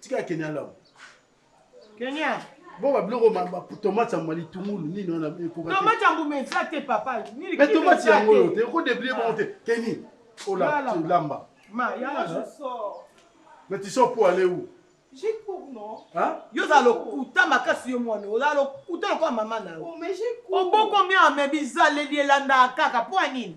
tika ya kenya lamu kenya boba biloko tomate ya mbali tungulu nini wana ekokatomate ya mbuma eza te papa me tomate yango oyo te okodeblie bango te keni olamba me tiso po ale ou yo oza lokuta makasi yo mwana oza lokuta lokola mama na yo oboko mia me bizaleli elandaka kaka mpo ya nini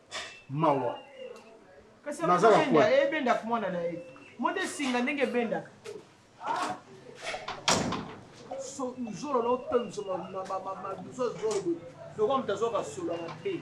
mawa kasi ebendaka mwana na ye mode esinga ndenge ebendaka zolo na otomisa maduso zolo lokola moto azwaka solo ya mabe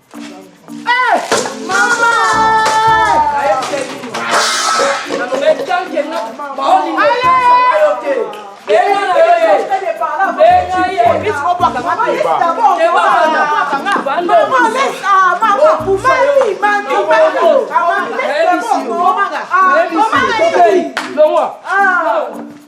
Maman,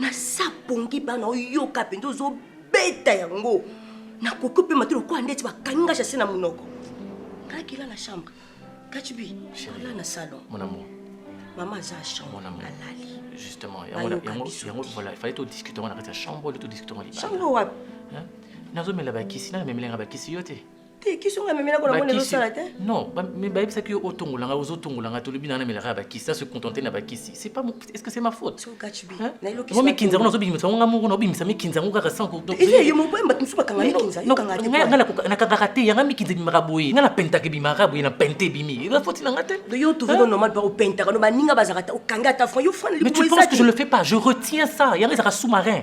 nasa pongi bana oyoka mpenza ozobeta yango nakoki opema te lokola ndeti bakangi ngai jase na monoko ngai kila na chambre kachibi ala na salon mon amour mama aza chambre alali justement yango voilà fallait todiscute yango na kati ya chambre ole todiscute yango chambre wapi nazomela bakisi nana memelanga bakisi yo te te kisi oyo amemela ko namoni ezosala te non mais bayebisaki yo otongola ngai ozotongola ngai tolobi na namelaka ya bakisi na se contente na bakisi c'est pas est ce que c'est ma faute ngo mikinza ngo nazobimisa ngo ngai moko naobimisa mikinza ngo kaka sans nakangaka te yanga mikinza ebimaka boye ngai napentaka ebimaka boye napente ebimi eza foti na ngai te yo tozono normal pa opentaka no baninga bazalaka te okangi ata fran yo fran mais tu penses que je le fais pas je retiens ça yanga ezaka sous-marin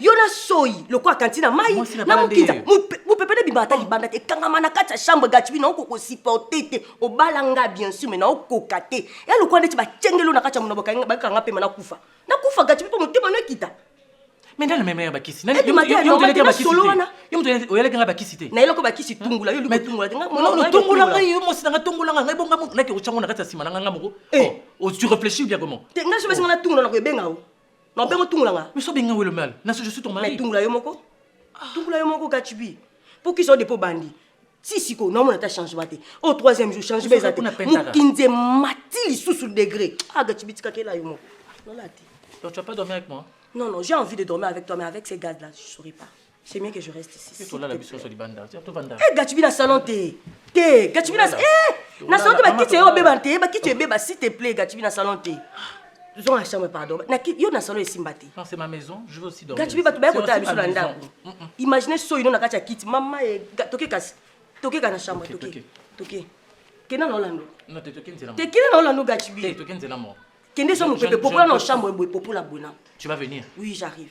yo na soyi lokola kanti na mai na mokinza mopepe nabima ata libanda te ekangama na kati ya chambre gatibi na oko kosupporte te obala nga bien sûr mai na okoka te ya lokola ndeti bakengelo na kati ya mono bakanga mpema nakufa nakufa gatibi mpo motema no ekita mais nani amemela bakisi nani oyelaki nga bakisi te nayelaki bakisi tungula yo tungula te tungula ngai yo mosi nanga tungula ngai ngai bonga motu nake otyango na kati ya nsima na ngai nga moko tu réfléchis bien comment te ngai sobesinga na tungula na koyebenga o Ma bengo tungula nga. Mais so benga welo mal. Na je suis ton mari. Mais tungula yo moko. Tungula yo moko gachibi. Pour qui so dépôt bandi. Si siko na mona ta changement te. Au oh, troisième jour changement ezate. Mukinze mati lisusu degré. Ah gachibi tika kela yo moko. Nolati. Donc tu vas pas dormir avec moi Non, non, j'ai envie de dormir avec toi, mais avec ces gars-là, je ne saurais pas. C'est mieux que je reste ici. S'il te plaît. Eh, Gatsby na salon te. Te, Gatsby na eh, na salon te ba kiti yo beba te, ba kiti beba s'il te plaît, Gatsby na salon te. Zonga chambre pardon. Na ki yo na salon esimba te. Non, c'est ma maison, je veux aussi dormir. Gatsby ba to ba ko ta biso na ndako. Mm, mm. Imaginez so ino na kati ya kiti, mama e toke kasi. Toke kana chambre toke. Toke. Kena na Orlando. Non, te toke nzela. Te kena na Orlando Gatsby. Te toke nzela mo. Kende so mo pepe popola na chambre boy popola bona. Tu vas venir? Oui, j'arrive.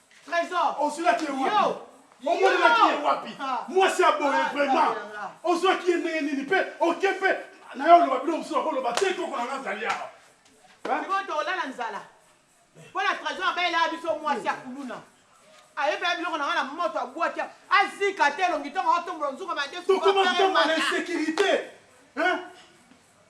Tresor. Ozuaki ye wapi? Omonelaki ye wapi? Mwasi ya boye vraiment. Ozuaki ye ndenge nini pe oke pe na yo oloba bino mosusu bakoloba te koko na nga azali awa. Sikoyo tokolala nzala. Mpo na Tresor abelelaka biso mwasi ya kuluna. Ayebela biloko na nga na moto abwaki azika te elongi ntongo aotombola nzungu ya madesu. Tokoma vraiment na insecurite hein.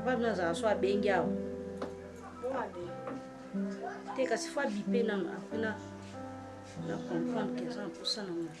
papa bino azala so abengi awa te kasi fo abipe nano apres na na comprendre ke eza na mposa na ngai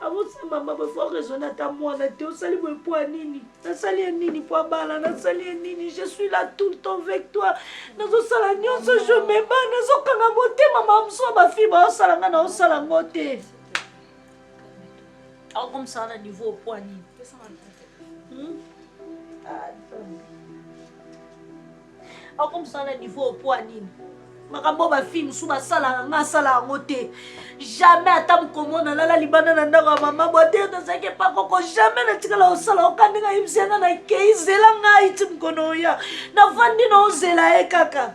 abotisa mama boye fo raisonne ata mwana te osali boye mpo ya nini nasali ye nini mpo abala nasali ye nini je suis là tout le temps avec toi nazosala nyonso je meba nazokanga motema mamosu ya bafille baosala nga naosala ngo te akomisaka na niveau mpo ya nini hmm? ah, Ako musala na niveau au poids nini? makambo ba fille mosusu basalaka nga asala yango te jamais ata mokomo nalala libanda na ndako ya mama bwa te tozalaki epa koko jamais natikala osala oka ndenge ayebisi yanga nakei zela ngai ti mokono oya navandi na ozela ye kaka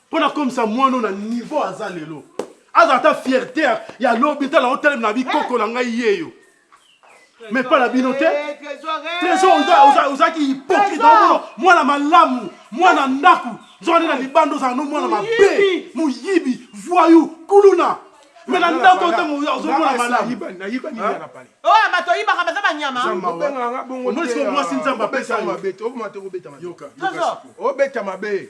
mpo nakomisa mwana oyo na niveau aza lelo aza ata fierte ya lobi tala otelemi na bikoko na ngai yeyo mais mpa na bino te trésor ozalaki hypocrite omono mwana malamu mwana ndako nzokande na libanda ozala no mwana mabe moyibi voyou kuluna me na ndako ntango ozomona malamuoyo bato oyibaka baza banyamaomwasi nzambe apesa yo obeta mabe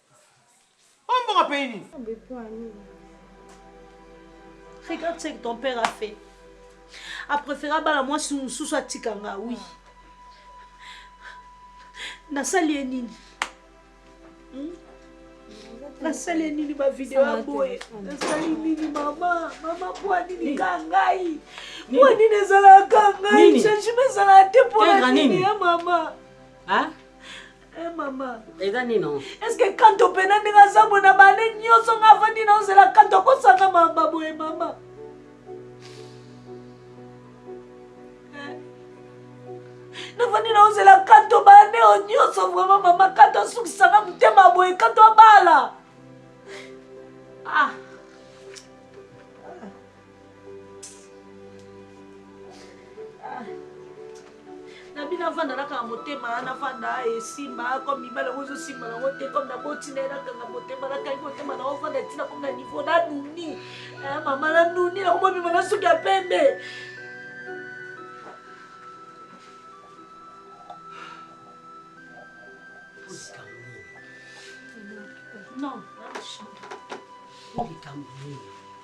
Oh, mbongo apaye nini? Regarde ce que ton père a fait. A préféré abala mwasi mosusu atika nga, oui. Nasali ye nini? Hmm? nasali ye nini bavideo ya boye nasali nini mama mama mpo nini ka ngai mpo nini ezalaka ngai changement ezalaka te mpo na nini ya mama Eh, mama eza nino eske kanto mpena ndenge aza boye na baane nyonso nga avandi na ozela kanto akosanga mamba boye mama eh. nafandi na ozela kanto baane oyo nyonso vraimen mama kanto asukisanga motema boye kanto abala ah. na bino avanda na kaka motema navanda esimba comme mibale yango ezosimba nango te comme naboti na ye nakanga motema nakangi motema na ovanda ntina komi na niveau nanuni eh, mama nanuni nakomobima na suki ya pembe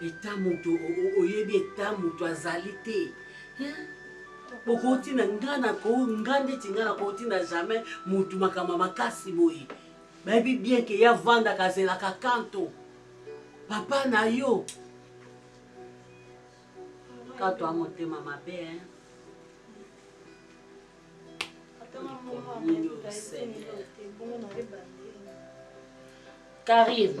Eta mutu oyebi eta mutu azali te hein bokoki tina nga na ko nga ndeti nga na ko tina jamais mutu makambo ya makasi boye bayebi bien ke ya vanda kazela ka kanto papa na yo kanto a motema mabe hein Karine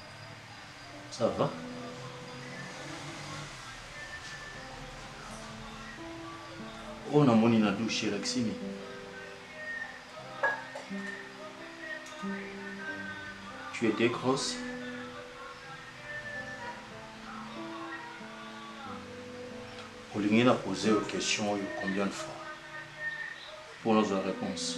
Ça va? Oh, na moni na douche elakisimi. Tu étais grosse. olingi na pose yo question oyo combien de fois mpo nazwa réponse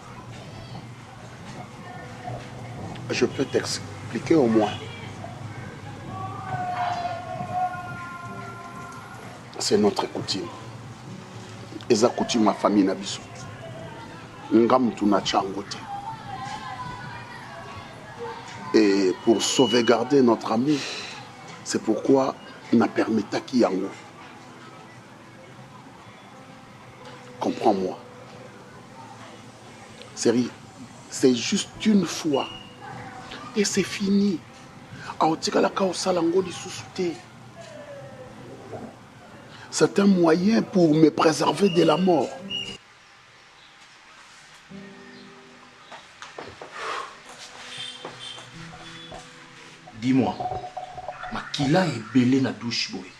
Je peux t'expliquer au moins. C'est notre coutume. Et ça coutume ma famille na biso. Ngam tu na changote. Et pour sauvegarder notre ami, c'est pourquoi na permetta ki yango. Comprends-moi. Sérieux, c'est juste une fois. Et c'est fini. aotikalaka osala yango lisusu te c'est un moyen pour me préserver de la mort dis-moi makila ebele na douche boye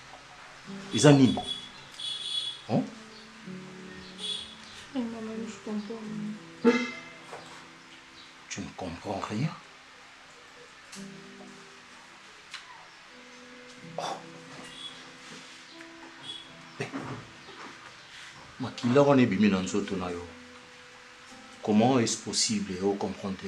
Eza nini? Hein? Eh, maman, je comprends rien. Tu ne comprends rien? Oh. Eh. makila wana ebimi na nzoto na yo comment est-ce possible o comprendre te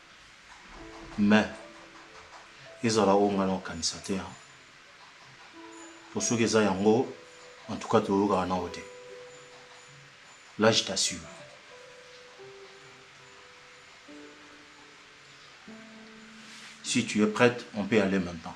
Mais ezala oyo ngai nakokanisa te hein. Po soki eza yango en tout cas toyokaka nao te. Là je t'assure. Si tu es prête, on peut aller maintenant.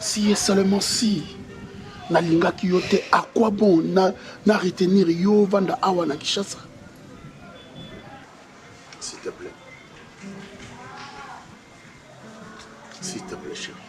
si et seulement si nalingaki yo te à quoi bon na, na retenir yo vanda awa na kishasa s'il te plaît s'il te plaît chérie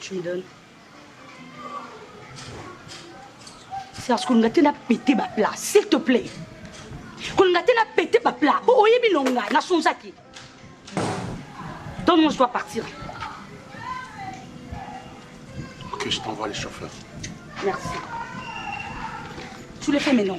tu me donnes serge kolinga te na pete baplat s'il te plaît kolinga te na pete baplat po oyebi no ngai nasonzaki donc moi je dois partir ok je t'envoie les chauffeurs merci tu le fais maintenant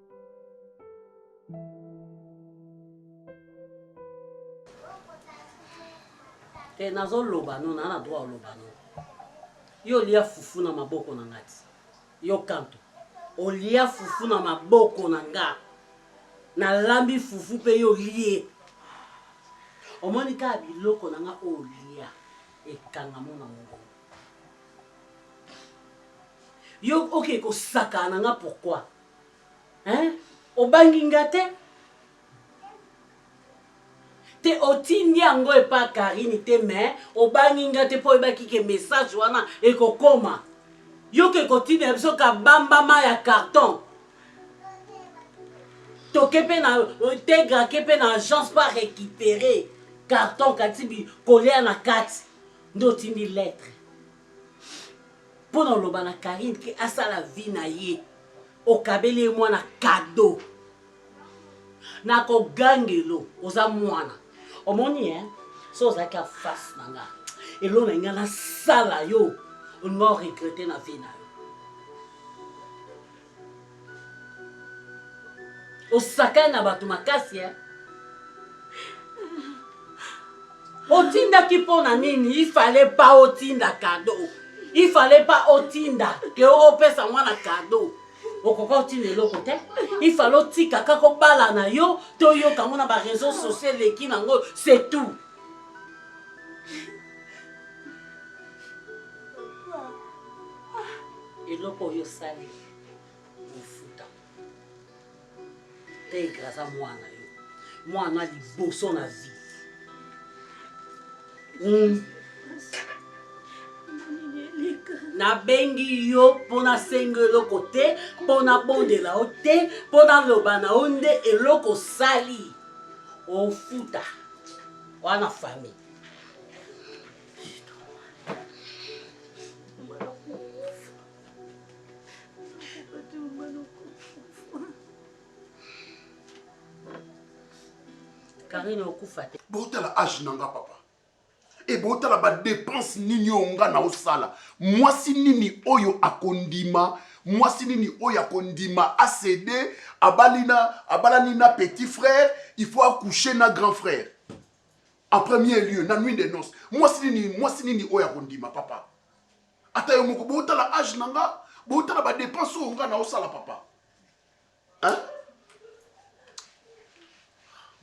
te eh, nazoloba no naa na droit oloba no yo olia fufu na maboko na ngai yo kanto olia fufu na maboko na nga nalambi fufu mpe yo olie omoni kaka biloko na nga oyo olia ekangamo na mongongo yo okei okay, kosakana na nga pourkui Hein? Obangi nga te? te otindi yango epa karine te mais obangi nga te mpo oyebaki ke message wana ekokoma yoka ekotindela biso kabambama ya carton toke mpe na tegra ke mpe na agence mpo arécupere carton kati kolia na kati nde otindi lettre pona oloba na Carine ke asala vie na ye okabeli ye mwana cadeau na ko gangelo oza mwana omoni hein so ozalaki en face na nga eloko na nga nasala yo olinga o regrette na vie na yo osakani na bato makasi eh? otindaki mpo na nini ifale pa otinda kado ifale pa otinda ke opesa mwana kado okoka otinda eloko te ifale otika kaka obala na yo toyoka yango na bareseau sociaux eleki nango c'est tout eloko oyo osali ofuta pedre aza mwana yo mwana liboso na vie hmm. nabengi yo mpo nasenga eloko te mpo nabondela yo te mpo naloba na yo nde eloko osali ofuta wana famille karine okufa te botala age na nga papa e botala badepense nini oyo nga na osala mwasi nini oyo akondima mwasi nini oyo akondima acede abalani na petit frère il faut accoucher na grand frère En premier lieu, na nuit de noces, mwasi nini, mwasi nini oyo akondima papa? Ata yo moko botala âge na nga, botala ba dépenses oyo nga naosala papa. Hein?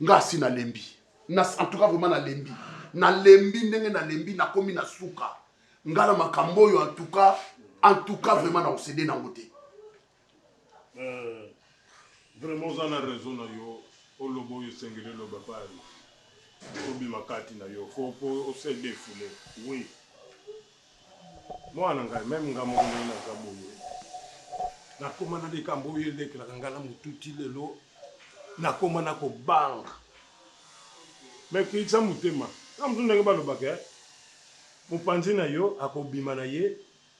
Nga asi nalembi. Na en tout cas vraiment nalembi. Nalembi ndenge nalembi nakomi na suka. Nga na makambo oyo en tout cas, en tout cas vraiment na osede nango te. Vraiment oza na raison na yo oloba oyo esengeli oloba epai obima kati na yo faut po ose defoule oui mwana ngai meme nga moko ndenge naza boye nakoma na likambo oyo elekelaka ngai na motu ti lelo nakoma na kobanga me kisa motema na mosu ndenge balobaka eh, mopanzi na yo akobima na ye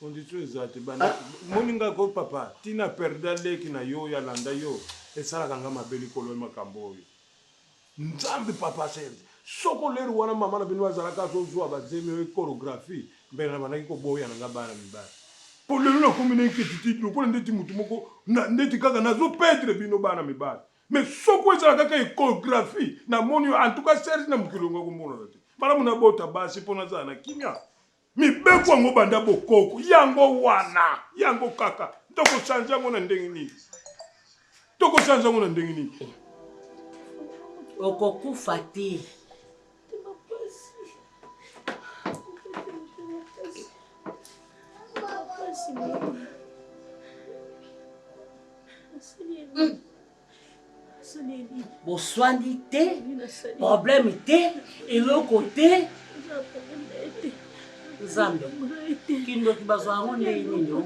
Condition eza te banda ah. moni nga ko papa tina perda leki na yo ya landa yo esalaka nga mabe likolo makambo oyo nzambe papa serge soko leri wana mama na bino azalaka azozwa bazemi oyo choreographie mbele na bandaki koboya na nga bana mibali po lelo nakomi na inquiétude lokola ndeti motu moko ndeti kaka nazo perdre bino bana mibali mais soko ezala kaka echographie namoni yo en tout cas serge na mokili onga komonana te malamu nabota basi mpo nazala na kimia Mibeko yango banda bokoko yango wana yango kaka tokochange yango na ndenge nini? Tokochange yango na ndenge nini? Okokufa te. Merci. boswani te problème te eloko te nzambe kindoki bazwa yango ndenge nini o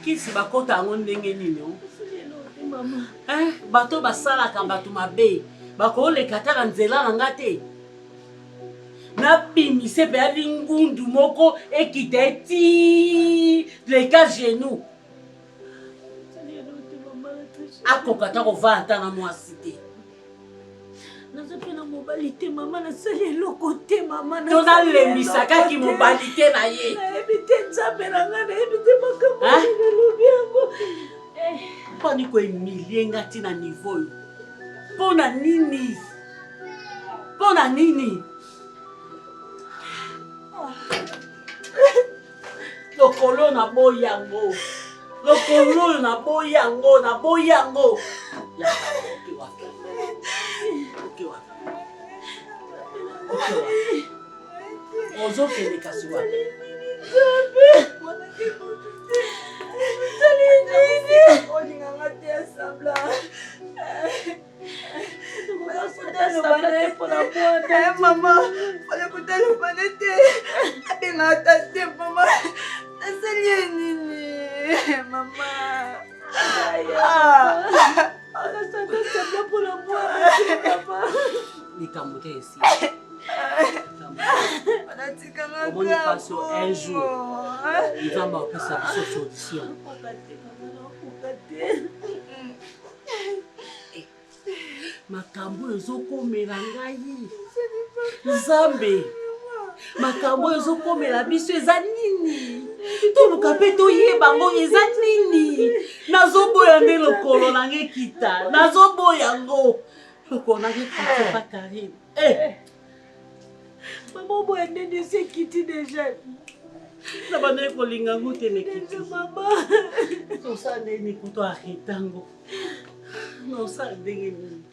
kisi bakota yango ndenge nini o bato basalaka bato mabe bakoleka ata na nzela na nga te nabimise mpe ya lingundu moko ekita eti leka genou akoka ata kovaa ata na mwasi te naza mpe na mobali te mama nasali eloko te mama to nalembisakaki mobali te na ye nayebi te nzambe na ngai nayebi te makambo nalobi yango eh. mpani koemilie nga ti na nivo oyo mpo na nini mpo na nini lokolo na boyi yango lokolo oyo na boyi yango na boyi yango ozokende kasi wapi olinganga te asambla mama fale kotalobane te abenga ata te mama nasali ye nini mama likambo te esi omoni paso un jour nzambe apesa biso solution makambo oyo ezokomela ngai nzambe makambo oyo ezokomela biso eza nini toluka mpe toyeba yango eza nini nazoboya nde lokolo na ngai kita nazoboya yango lokolo na ngai kita pa karine Eh. Maman boye ndenge esi ekiti deja. Na bandaki kolinga yango te na ekiti. Mama. Tosala ndenge nini kutu arreta yango. Na osala ndenge nini?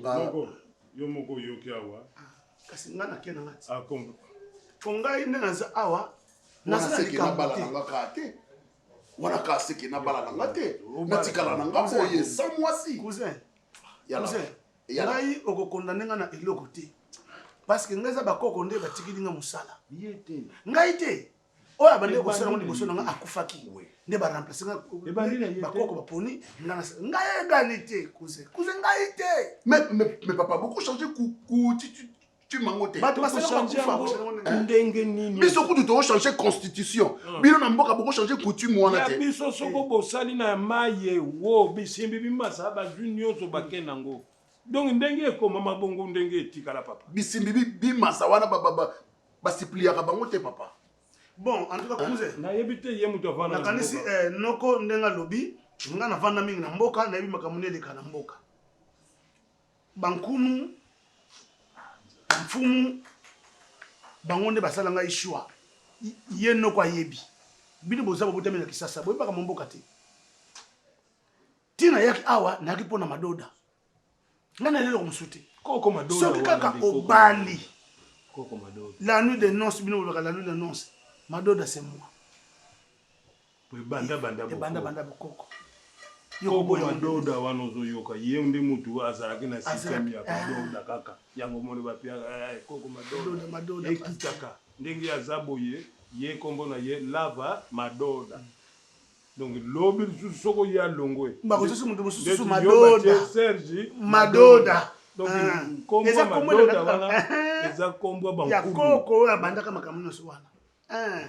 Moko, yo moko oyoki awa. Ah, kasi ngai nake na ngati. Ah, kongo. Po ngai nde naza awa. Naza na likambo te. wana ka seke nabala na nga te natikala na nga boye sa mwasi ngai okokondane nga na eloko te parceke ngai eza bakoko nde batikili nga mosala ngai te oyo abandaki kosala ngo liboso na nga akufaki nde baremplace nga bakoko baponi ngai egali te kuze kuze ngai te mais papa boko change kutitude bato basala bakufa ndenge nini biso kutu tokochange constitution ah. bino na mboka bokochange coutume wana te biso soko eh. bosali na maye wo bisimbi bimasala bazwi nyonso bake nango donc ndenge ekomama bongo ndenge etikala papa bisimbi bimasa wana basipliaka bango te papa bon en tout cas cousin eh, nayebi te ye moto avanda nakanisi eh, noko ndenge alobi nga navanda mingi na mboka nayebi makambo nde eleka na mboka Bankumu, mfumu, bango nde basala ngai shwa. Ye noko ayebi. Bino boza bobotami na Kisasa, boyebaka mwa mboka te. Ntina yaki awa nayaki mpo na madoda. Ngai na leloko mosusu te. Soki kaka obali la nuit de nonce, bino bolobaka la nuit de nonce, madoda c'est moi. Po ebanda banda bokoko. Ebanda banda bokoko. Koko ma doda wana ozo yoka ye nde mutu azalaki na système ya ba doda eh. kaka yango omoni ba piaka eh, eh, koko ma doda ekitaka ndenge aza boye ye kombo na ye lava ma doda mm. donc lobi lisusu soki oye alongwe bakosusu mutu mosusu madoda serge madoda donc ah. kombo ya madoda wana eza kombo ya bankulu ya koko oyo abandaka makambo nyonso wana eh.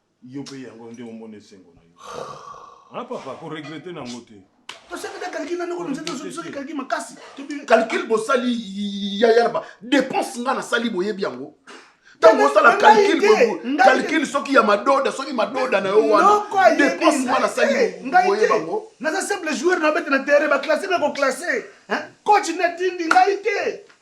Yo pe yango nde omona esengo na yo. Ah papa, ko regretter na ngo te. tosali na calcul na ndeko nzete soki soki calcul makasi calcul bosali yaya na dépense nga nasali boyebi yango ntango osala calcul calcul soki ya madoda soki madoda na yo wana dépense nga nasali boyeba yango naza simple joueur na bete na terrain baclasse na koclasse coach natindi ngai te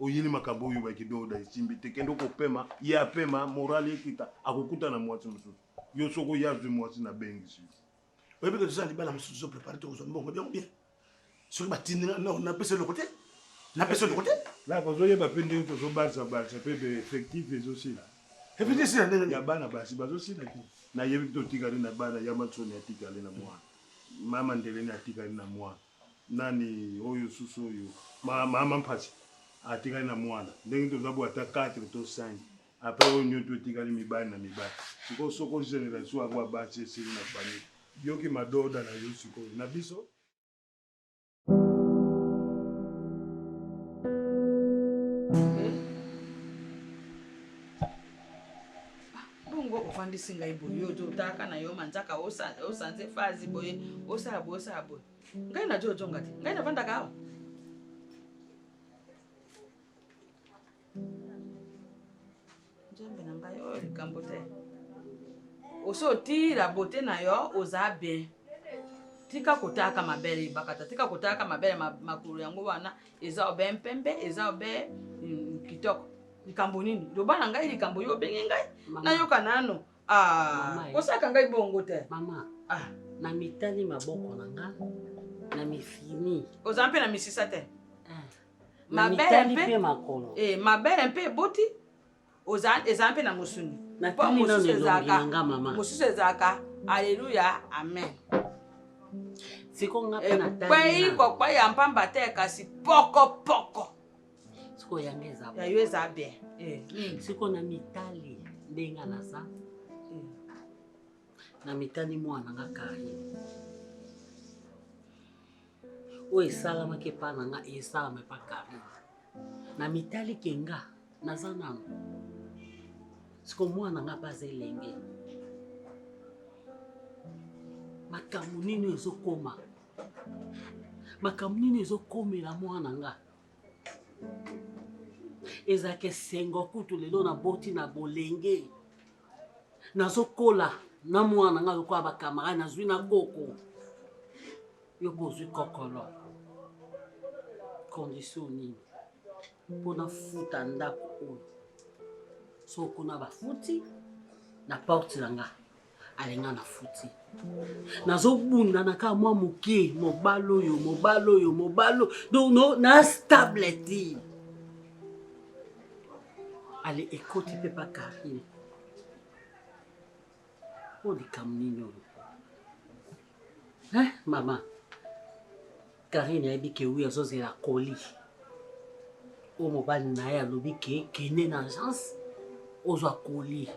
Oyini makambo oyo oyibaki doda esimbi te kende kopema ye apema morale ekita akokuta na mwasi mosusu yo soko ye azwi mwasi na bengisi yo oyebi ke toza na libala mosusu tozo prepare tokozwa mbongo byango bien soki batindi nga no napesa eloko te napesa eloko te laka ozoyeba mpe ndenge tozobalisa balisa mpe effectif ezosila effectif esila ndenge nini ya bana basi bazosila te nayebi totikali na bana ya masoni atikali na mwana mama ndeleni atikali na mwana Nani oyo susu oyo mama mpasi atikali na mwana ndenge toza bo ata 4 to 5 après oyo nyoto etikali mibali na mibali sikoyo soko generation yango ya basi esili na famille yoki madoda na yo sikoyo na biso Bongo ofandisi ngai boye, yo ozo otaka na yo manzaka, osanze fazi boye, osala boye, osala boye. Ngai nazo ozonga te, ngai nafandaka awa. Nzambe na ngai, oyo likambo te. Osi otila bote na yo, oza bien. tika kotalaka mabele ebakata tika kotalaka mabele makolo yango wana eza obe mpembe eza obe mm, kitoko likambo nini loba na ngai likambo yo obenge ngai nayoka nano ah, kosaka ngai bongo te mama ah. na mitali maboko na nga na mifini oza mpe na misisa te ah. mabele mpe makolo eh, mabele mpe eboti oza eza mpe na mosuni mpo mosusu ezalaka mosusu ezalaka aleluya amen ekwei kokwei ya mpamba te kasi pokopoko ya yo eza bien eh, hmm. siko na mitali ndenge naza eh. na mitali mwana nga kari oyo esalamaki epa na nga esalama epa karine na mitali ke nga naza nano siko mwana nga mpe aza elenge makambo nini ezokoma makambo nini ezokomela mwana nga ezalaka esengo kutu lelo naboti na bolenge nazokola na mwana nga lokola bakamarade nazwi na koko Yo pe ozwi kokolo condition nini mpo nafuta ndako oyo soko kuna bafuti na porte na nga alinga nafuti nazobunda na kaka mwa moke mobali oyo mobali oyo mobali donc no, na stable te ale ekoti mpe pa karine mpo likambo nini oyo Eh, maman. Karine ayebi ke wi azozela koli. Oyo mobali na ye alobi ke kende na agence ozwa koli.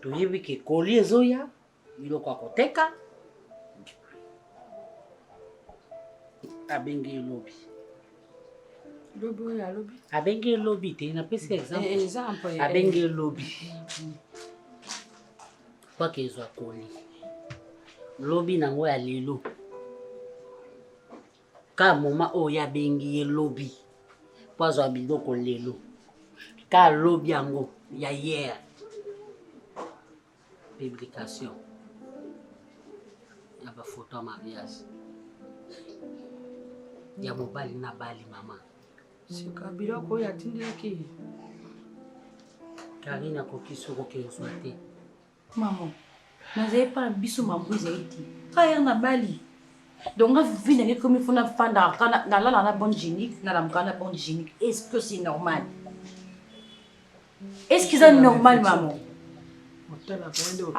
Toyebi ke koli ezoya biloko ya koteka abengi ye lobi lobi oyo alobi abengi ye lobi te napesi exemple eh, eh, abengi ye lobi mm. Kwake ezwa koli lobi nango ya lelo ka moma oyo ye abengi ye lobi mpo azwa biloko lelo ka lobi yango ya hier publication ya bafoto ya mariage ya mobali na bali mama sika biloko oyo atindiki karine akoki soki okezwa te mama nazali mpa na biso mambo ezali te kayere na bali donc nga vivi nange komi fo nafandaka nalala na bonne génique nalamuka na bonne génique est ce que c'est normal Est-ce que c'est normal maman? Otala kwa ndio.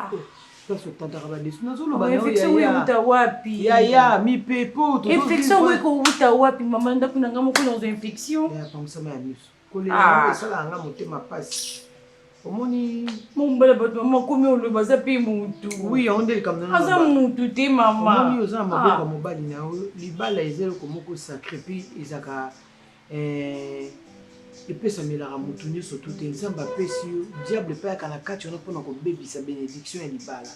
Sasa utadaka ba desu. Nazoloba na yo ya ya. wapi? Ya ya mipepo to. Infection wewe ko uta wapi mama ndaku na ngamo kuna ozo infection. Ya pa msama ya miso. Kolela ah. na sala nga motema pasi. omoni mombala bato mama komi oloba aza mpe motu oui yango nde likambo nano aza motu te mama omoni oza na maboko ya ah. mobali na yo libala eza eloko moko sacré mpe ezaka Eh, epesamelaka moto nyonso tu te nzambe apesi yo diable epai ayaka na kati wana mpona kobebisa benediction ya libala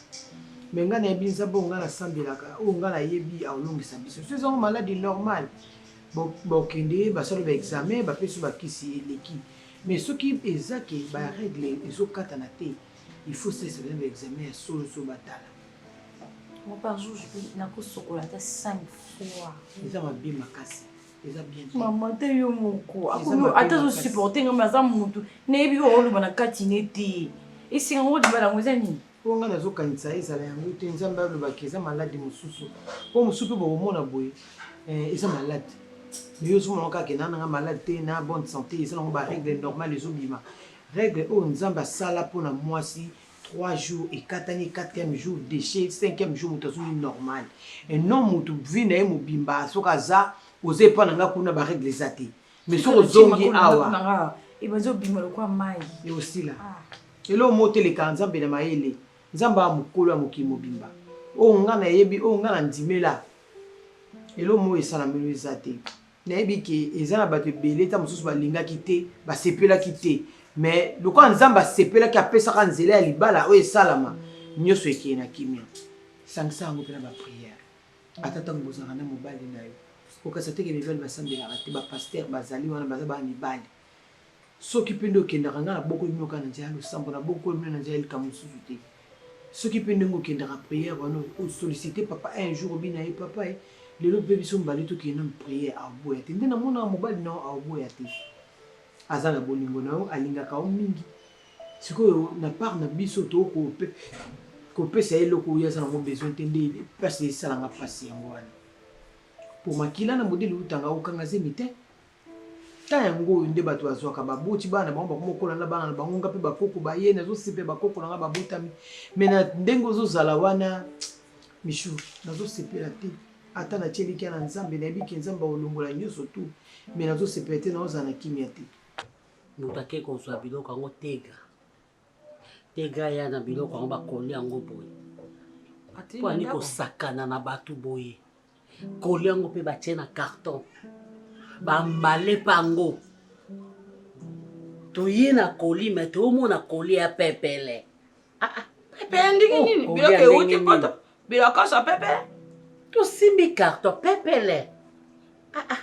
me ngai nayebi nzambe oyo ngai nasambelaka oyo ngai nayebi aolongisa biso so ezango maladi normal bokende basali baexamen bapesi bakisi eleki mais soki eza ke baregle ezokatana te il faut sese bana baexamen ya solo so batala par jour nakosokola ata 5 fois eza mabe makasi mama te yo moko ata azosupporte ngai aza motu nayebi yo oloba na kati ne te esenga ngo libala yango eza nini mpo ngai nazokanisa ezala yango te nzambe alobaki eza maladi mosusu mpo mosusu mpe bokomona boye eh, eza maladi yo ozomona kaka kena nanga maladi te na bonne santé eza nango barègle normale ezobima règle oyo nzambe asala mpo na mwasi 3 jours ekatani 4e jour déchet 5e jour moto azongi normal et non moto vie na ye mobimba soki aza oza epa na nga kuna barègle eza te mais soki ozongi awa ebazobima lokwa mai eosila ah. elo moteleka nzambe na mayele nzambe ya mokolo ya mokili mobimba oyo nga nayebi oyo nga na ndimela elo moyo esalamelo eza te Nayebi ke eza na bato ebele ta mosusu balingaki te, basepelaki te. Me lokola Nzambe asepelaki, apesaka nzela ya libala oyo esalama, nyonso ekeye na kimia. Sangisa yango mpe na bapriere. Ata ntango bozalaka na mobali na yo, okasa te ke mibali basambelaka te, bapaster bazali wana, baza bana mibali. Soki mpe nde okendaka, ngai nabokoli bino kaka na nzela ya losambo, nabokoli bino na nzela ya likambo mosusu te. Soki mpe ndenge okendaka prière wana, o solliciter papa un jour obina ye papa eh, lelo mpe biso mibale tokende nanu prière, aoboya te. Nde namonaka mobali na yo aoboya te. Aza na bolingo na yo, alingaka yo mingi. Sikoyo na part na biso to ko kopesa ye eloko oyo aza nango besoin te, nde mpasi esalanga mpasi yango wana. Mpo makila na modele eutanga kokanga zemi te. Temps yango oyo nde bato bazwaka baboti bana na bango bakoma kokola na bana na bango nga mpe bakoko baye nazosepela bakoko na nga babotami me na ndenge ozozala wana michu nazosepela te ata na tielikia na nzambe nayebi ke nzambe akolongola nyonso tu me nazosepela te naozala na kimia te moto ake kozwa biloko yango tega Tegra ya na biloko yango bakoli yango boye mpo ani kosakana na bato boye koli yango mpe batie na carton bambale mpe yango toye na koli me toomona koli ya pepele ah, ah. pepele ndenge oh, nini biloko euti poto bilokoso pepele tosimbi carton pepele ah, ah.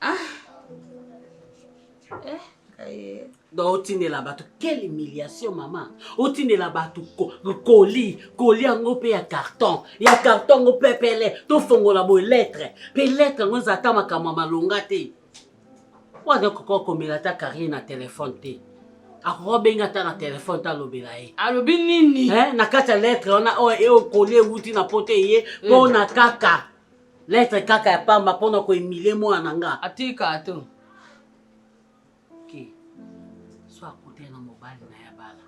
Ah. Eh, kaye. Donc otindela bato quelle humiliation mama otindela bato koli koli yango mpe ya carton ya carton yango pepele tofongola boye lettre mpe lettre yango eza ata makambo ya malonga te wana koko akomela ata carrier na telefone te akoki obenga ata na telefone ta alobela ye alobi nini eh, na kati ya lettre wana oyo oh, eh, okoli ewuti na poto eye mpo eh. na kaka Lettre kaka ya pamba mpo na koemilie mwana na nga. Atika ato. Okay. So akutana na mobali na ya bala.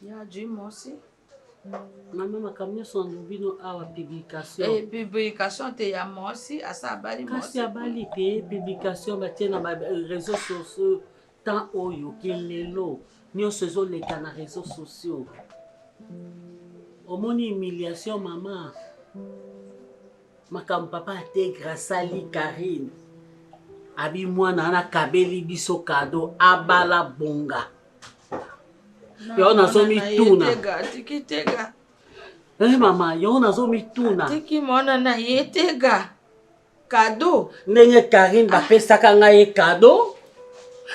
Ya Jim Mosi. Mama makambo nyonso na bino awa publication. Eh, publication te ya Mosi asa abali Mosi. Kasi abali te publication batie na ba réseaux sociaux temps oyo kilelo nyonso ezoleka na réseaux sociaux. Omoni humiliation mama. Makambo papa ategra asali Karine. Abi mwana wana kabeli biso kado abala bonga. yango nazomituna eh, mama yango nazomituna tiki mwana na ye tega kado ndenge karine bapesaka ngai ye kado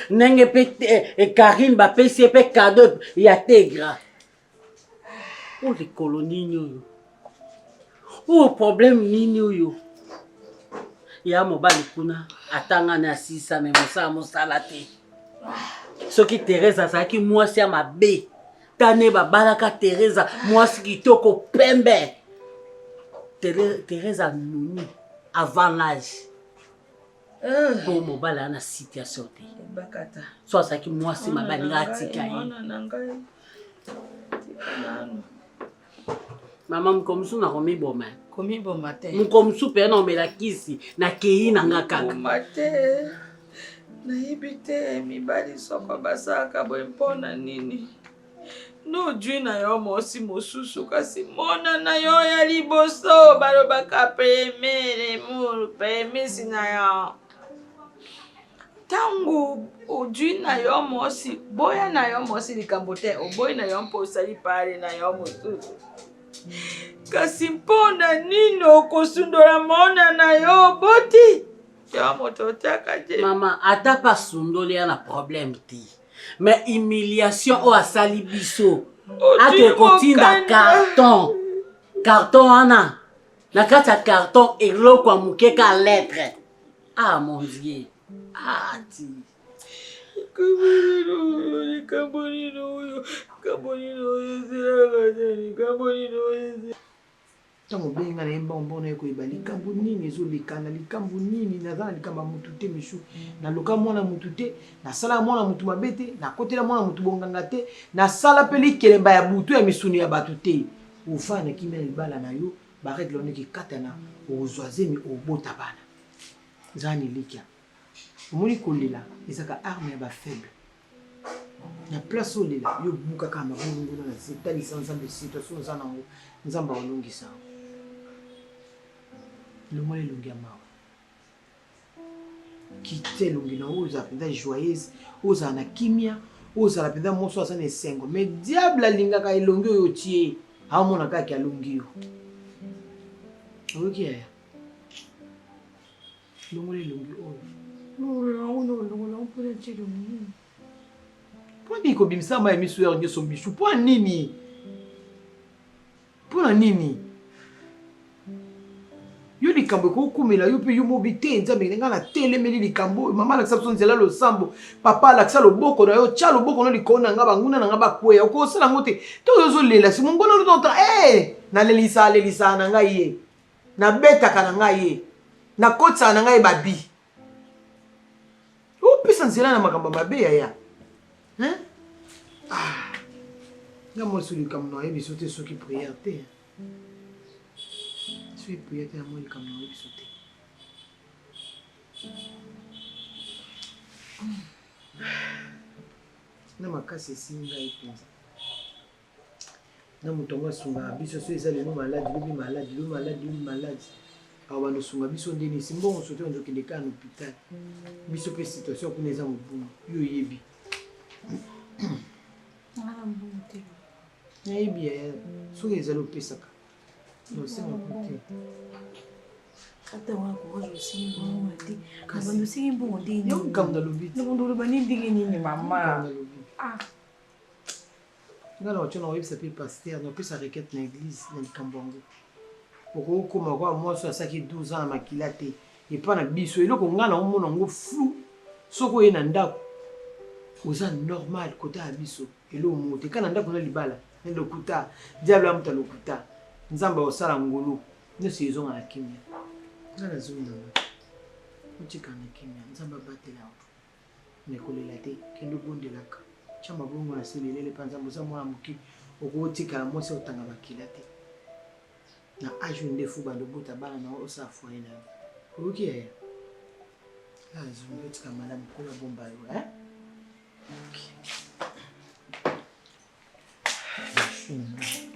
ndenge mpe eh, eh, karine bapesi ye mpe kado ya tegra Oyo likolo nini oyo? Oyo problème nini oyo? Ya mobali kuna atanga na asisa me mosala mosala te. Soki Teresa azalaki mwasi ya mabe, tane babalaka Teresa mwasi kitoko pembe. Teresa nuni avant l'âge. po mobali ana situation te so azalaki mwasi mabe alinga atika ye mama mokolo mosusu nakomiboma komiboma te mokolo mosusu mpe naomela kisi nakei na nga kaka nayebi te mibali soko basalaka boye mpo na nini nozwi na yo mosi mosusu kasi mwana na yo ya liboso balobaka premiere mur premisi na yo ntango ozwi na yo mosi boya na yo mosi likambo te oboyi na yo mpo osali pale na yo mosusu kasi mpo na nini okosundola mwana na yo oboti yo moto otyaka te mama ata pasundoli ya na probleme te mais humiliation oyo asali biso ake kotinda carton carton wana na kati ya carton eloko ya moke ka lettre ah mon dieu ah ti likambo nini oyo likambo nini oyo ezelaka te likambo nini oyo Ntango obengi ngai na ye mbongo mbongo, naye koyeba likambo nini ezoleka na likambo nini. Naza na likambo ya mutu te Michou, naloka mwana mutu te, nasalaka mwana mutu mabe te, nakotela mwana mutu bonganga te, nasala mpe likelemba ya butu ya misuni ya batu te. Ofanda na kimia na libala na yo, ba règles wana ekikatana, okozua zemi, okobota bana. Zala na elikia. Omoni kolela ezalaka arme ya ba faibles. na place olela yo buka kaka mabulu nguna na se talisa nzambe situation oza nango nzambe aolongisa yango longola elongi ya mawa kite elongi na oyo ozala mpenza joyeuse ozala na kimia ozala mpenza moso aza na esengo mais diable alingaka elongi oyo otie aomona kaka alongi yo oyoki yaya Longola elongi oyo. Longola yango na longola yango mpona ntie elongi nini? Mpo nini kobimisa mai miso yao nyonso michu? Mpo nini? Mpo na nini? yo likambo ekokomela yo mpe yo mobi te nzambe ngai natelemeli likambo oyo mama alakisa biso nzela losambo papa alakisa loboko na yo tya loboko no likolo na ngai banguna na ngai bakweya okosala yango te to oyo ozolela si monguna olutonta e eh, nalelisa alelisa na ngai ye Na betaka na nga ye. Na kotisaka na nga ye ba bi. O pesa nzela na makambo mabe yaya. Hein? Ah. Nga moi sous likambo na yebi sote soki prière te. Soki prière te na moi likambo na yebi sote. na makasi esimbi ngai mpenza na moto yango asungaka biso so eza lelo maladi lobi maladi lobi maladi lobi maladi awa bando osunga biso nde nisi mbongo soki ozo kende kaka na hôpital biso mpe situation kuna eza mobulu yo oyebi nayebi ya soki ezali opesaka nosenga kote yo likambo nalobi te oloba nini ndenge nini mama nga na ocho na oyebisa mpe paster na opesa requete na eglise na likambo yango okokoma kwa mwasi asaki 12 ans na makila te epa na biso eloko nga na omona yango flou soki oye na ndako oza normal kota ya biso eloko moko te ka na ndako na libala na lokuta diable amuta lokuta nzambe akosala ngolu nyonso ezonga na kimia nga nazongi na nga otikala na kimia nzambe abatela yango Mais kolela te, kende obondelaka. Tia mabongo na se lelele pa Nzambe, oza mwana moke, okotikala mwasi otanga makila te. Na age oyo ndefu bando obota bana na yo osala foyer na yo. Oyoki yaya? Ah, zongi otika malamu kola bomba yo, hein? Okay. Merci.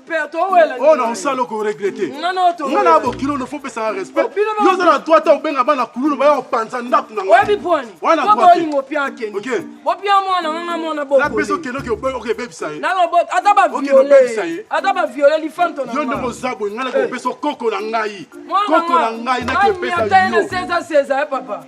oyo na osala oko regrete nga na bokilo no fopesaka respect yo oza na droit ta obenga bana kululu baya kopanza ndako na ngapesa okendokebebisa ye yo ndenge oza boye ngai nakopesa okoko na ngai koko na ngai nakepesa yo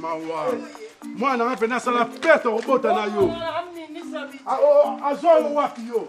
mawa mwana nga mpena asala pete okobota na yo ah, oh, oh, azwa yo wapi yo